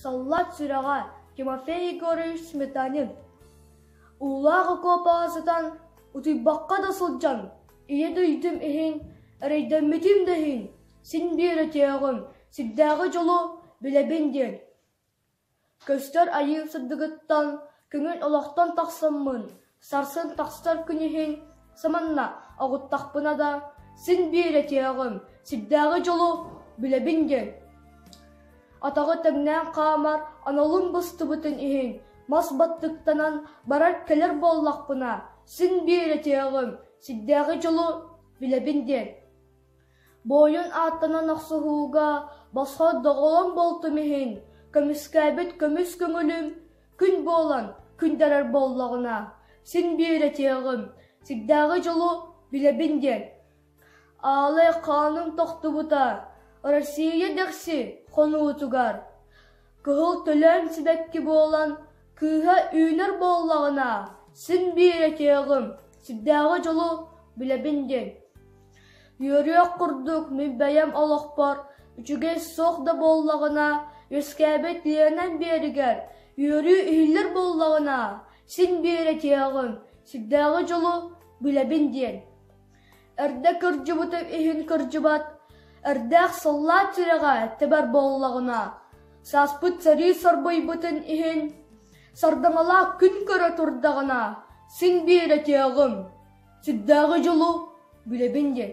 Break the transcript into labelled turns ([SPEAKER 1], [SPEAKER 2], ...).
[SPEAKER 1] Саллаат сүрэҕэ Тимофей Егорович Сметанин Уулаах окуопаҕа сытан, утуйбакка да сылдьан, ийэ дойдум иһин, эрэйдэммитим да иһин, син биэрэтиэҕим, сирдээҕи дьолу билэбин диэн Көстөр айыы сырдыгыттан көҥүл олохтон тахсаммын, сарсын тахсар күн иһин саманна оҕуттахпына да, син биир этиэҕим, сирдээҕи дьолу билэбин диэн, атаҕы тэҥнээн хаамар аналым быстыбытын иһин мас баттыктанан барар-кэлэр буоллахпына, син биир этиэҕим, сирдээҕи дьолу билэбин диэн Буойун ааттанан охсуһууга босхо доҕолом буолтум иһин, көмүскээбит көмүс көҥүлүм күн буолан күннэрэр буоллаҕына, син биэрэтиэҕим, сирдээҕи дьолу билэбин диэн аалай хааным тохтубута Россия дэхси хонуутугар Кыһыл төлөөн сибэкки буолан, кыыһа үүнэр буоллаҕына, син биир этиэҕим, сирдээҕи дьолу билэбин диэн. Үөрүөх курдук мин бэйэм олохпор үчүгэй суох да буоллаҕына, үөскээбит ийэнэн биэригэр үөрүү иһиллэр буоллаҕына, син биир этиэҕим, сирдээҕи дьолу билэбин диэн. Эрдэ кырдьыбытым иһин кырдьыбат, эрдээх сыллаат сүрэҕэ тэбэр буоллаҕына, сааспыт сэрии сорбуйбутун иһин, сардаҥалаах күн көрө турдаҕына, син биэрэтиэҕим, сүрдээҕи дьолу билэбин диэн